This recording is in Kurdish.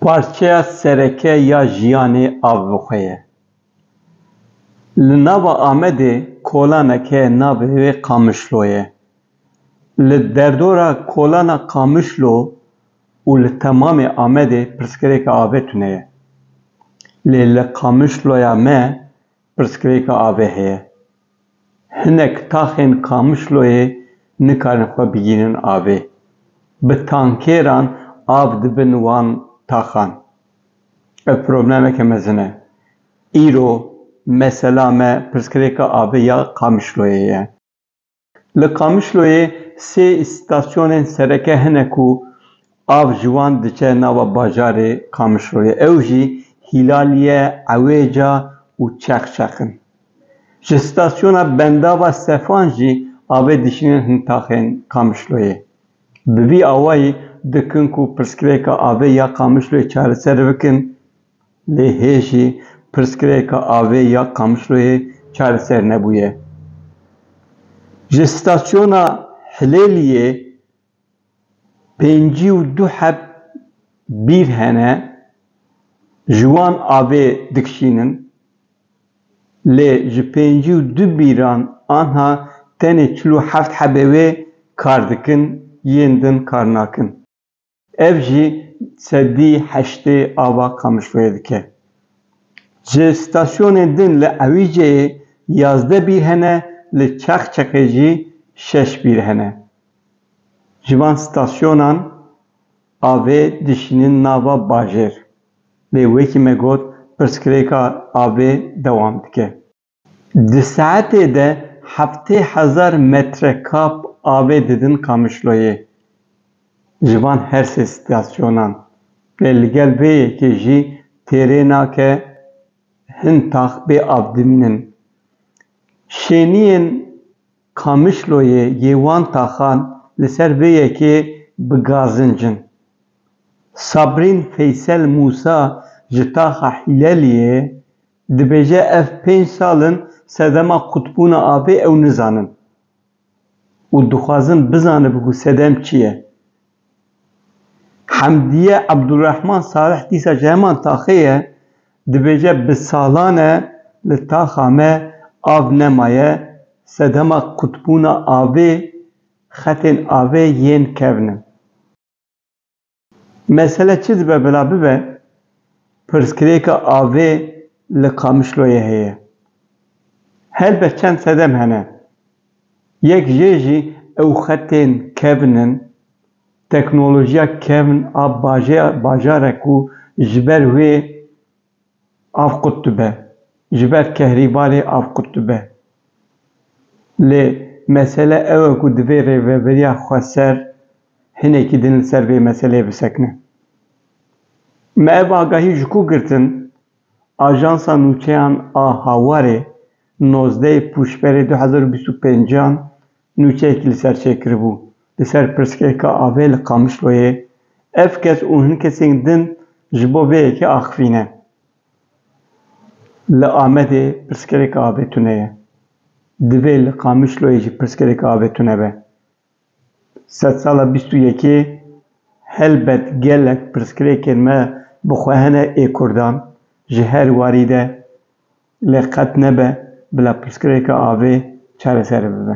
Parçeya sereke ya jiyanê avxwe ye. Li nava Amedê kolanek heye navê wê Qamişlo ye. Li derdora kolana Qamişlo û li temamê Amedê pirsgirêka avê tune ye. Lê li Qamişloya me Pirsgirêka avê heye. Hinek taxên Kamişloyê nikarin xwe bigînin avê. Bi tankêran av dibin wan taxan. Ev problemeke mezin e. Îro mesela me pirsgirêka avê ya Kamişloyê ye. Li Qamişloyê sê îstasyonên sereke hene ku av ji wan diçe nava bajarê Qamişloyê. Ew jî Hîlaliye, Ewêca û Çexçex in. Ji stasyona Bendava Sefan jî avê dişînin hin taxên Qamişloyê. Bi vî awayî dikin ku pirsgirêka avê ya Qamişloyê çareser bikin. Lê hê jî pirsgirêka avê ya Qamişloyê çareser nebûye. Ji stasyona Hilêliyê pêncî û du heb bîr hene, ji wan avê dikişînin. Lê ji pêncî û du bîran anha tenê çil û heft hebê wê kar dikin, yên din kar nakin. Ev jî sedî heştê ava Qamişloyê dike. Ji stasyonên din li Ewîceyê yazdeh bîr hene, li Çaxçaqê jî şeş bîr hene. Ji van stasyonan avê dişînin nava bajêr. Lê wekî me got pirsgirêka avê dewam dike. Di saetê de heftê hezar metrekab avê didin Qamişloyê ji van her sê stasyonan. Lê li gel vê yekê jî têrê nake hin tax bê av dimînin. Şêniyên Qamişloyê yê wan taxan li ser vê yekê bi gazinc in. Sabrîn Feysel Mûsa ji taxa Hîleliyê, Dibêje ev pênc sal in sedema qutbûna avê ew nizanin û dixwazin bizanibin ku sedem çi ye. Hemdiye Ebdulrehman Salih dîsa ji heman taxê ye, dibêje bi salan e li taxa me av nemaye, sedema qutbûna avê, xetên avê yên kevn in. Mesele çi dibe bila bibe, pirsgirêka avê li Qamişloyê heye. Helbet çend sedem hene. Yek jê jî ew xetên kevn in, teknolojiya kevn a bajêya bajar e ku ji ber wê avqut dibe, ji ber kehrîbarê avqut dibe. Lê mesele ew e ku divê rêveberiya xweser hinekî din li ser vê meseleyê bisekine. Me ev agahî ji ku girtin, Ajansa Nûçeyan a Hawarê nozdeh Pûşberê du hezar û bîst û pêncan, Nûçeyekî li ser çêkiribû li ser pirsgehka avê li Qamişloyê, ev kes û hin kesên din ji bo vê yekê axivî ne. Li Amedê pirsgirêka avê tune ye. Divê li Qamişloyê jî pirsgirêka avê tune be. Sedsala bîst û yekê helbet gelek pirsgirêkên me bi xwe hene ê kurdan ji her warî de lê qet nebe bila pirsgirêka avê çareser bibe.